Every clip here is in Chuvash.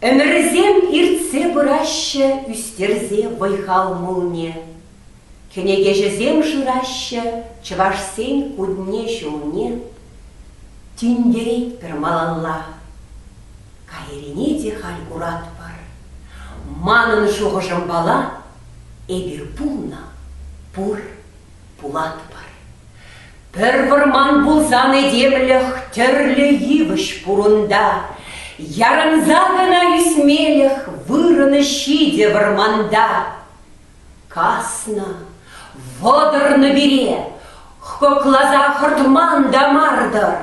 Ӗмӗрсем иртсе пыраҫҫӗ ӳстерсе вӑй-хал мулне. Кӗнекеҫӗсем шыраҫҫӗ чӑвашсен кунне-ҫулне. Тинкерет пӗр малалла. Кайрине те халь куратпӑр. Манӑн шухӑшӑмпала Эпир пулнӑ, пур, пулатпӑр. Пӗр вӑрман пулсан этемлӗх тӗрлӗ йывӑҫ пурунта. Ярӑнса кӑна ӳсмелӗх вырӑнӗ ҫитӗ вӑрманта. Каснӑ, вӑтӑрнӑ пире, хӑкласа хӑртман та мар-тӑр.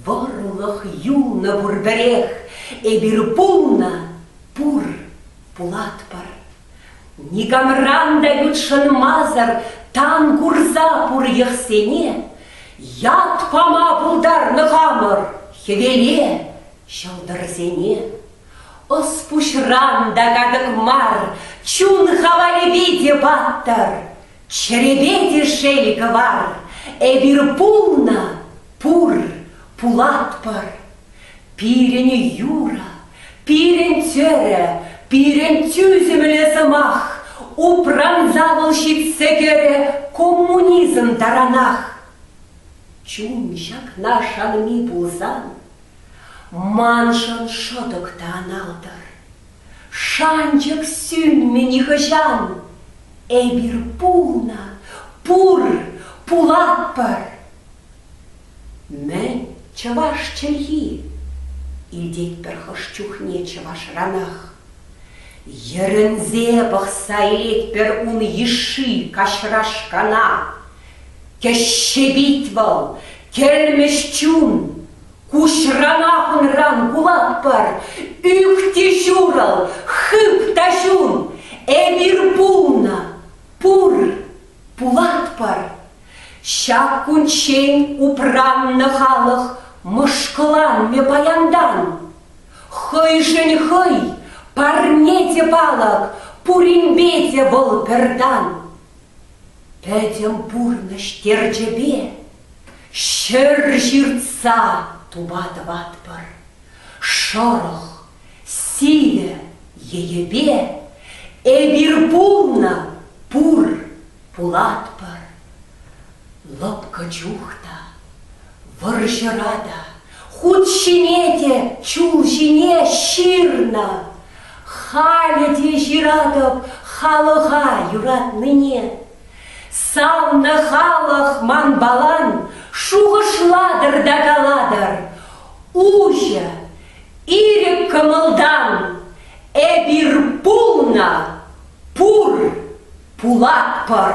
Вӑрлӑх юлнӑ пур пӗрех, эпир пулнӑ, пур, Пулатпӑр. Никамран та ютшӑнмасӑр тан курса пур йӑхсене, ят пама пултарнӑ хамӑр хӗвеле, ҫӑлтӑрсене. Ӑс-пуҫран та катӑк мар чун хавалӗпе те паттӑр, чӗрепе те шел кӑвар, эпир пулнӑ, пур, пулатпӑр, Пирӗн юрӑ, пирӗн чӗрӗ, пирӗн тӳсӗмлӗ сӑмах, упранса вӑл ҫитсе кӗрӗ коммунизм таранах. Чун ҫакна шанми пулсан, маншӑн шӑтӑк та аналтӑр. Шанчӑк сӳнмӗ нихӑҫан, эпир пулнӑ, пур, пулатпӑр! Мӗн, чӑваш чӗлхи? илтетпӗр хӑш чухне чӑвашранах. Йӗрӗнсе пӑхса илетпӗр ун йышши каҫрашкана. Кӗҫҫе пит вӑл, кӗлмӗҫ чун. Куҫранах унран кулатпӑр, ӳк те ҫурӑл, хып та ҫун. Эпир пулнӑ, пур, Пулатпӑр! Ҫак кунччен упраннӑ халӑх мӑшкӑланмӗ паянтан. Хӑйшӗн хӑй, парне те палӑк, пуринпе те вӑл пӗртан. Пӗтӗм пурнӑҫ терчӗпе ҫӗр ҫыртса тума тӑватпӑр. Шӑрӑх, Сивӗ йӗпе эпир пулнӑ пур, пулатпӑр. Лӑпкӑ чух та, вӑрҫӑра та, хут ҫине те чул ҫине ҫырнӑ. Халӗ те ҫыратӑп халӑха юратнине. Савнӑ халӑх манпалан шухӑшлатӑр та калатӑр, уҫӑ Ирӗк кӑмӑлтан эпир пулнӑ, пур, пулатпӑр.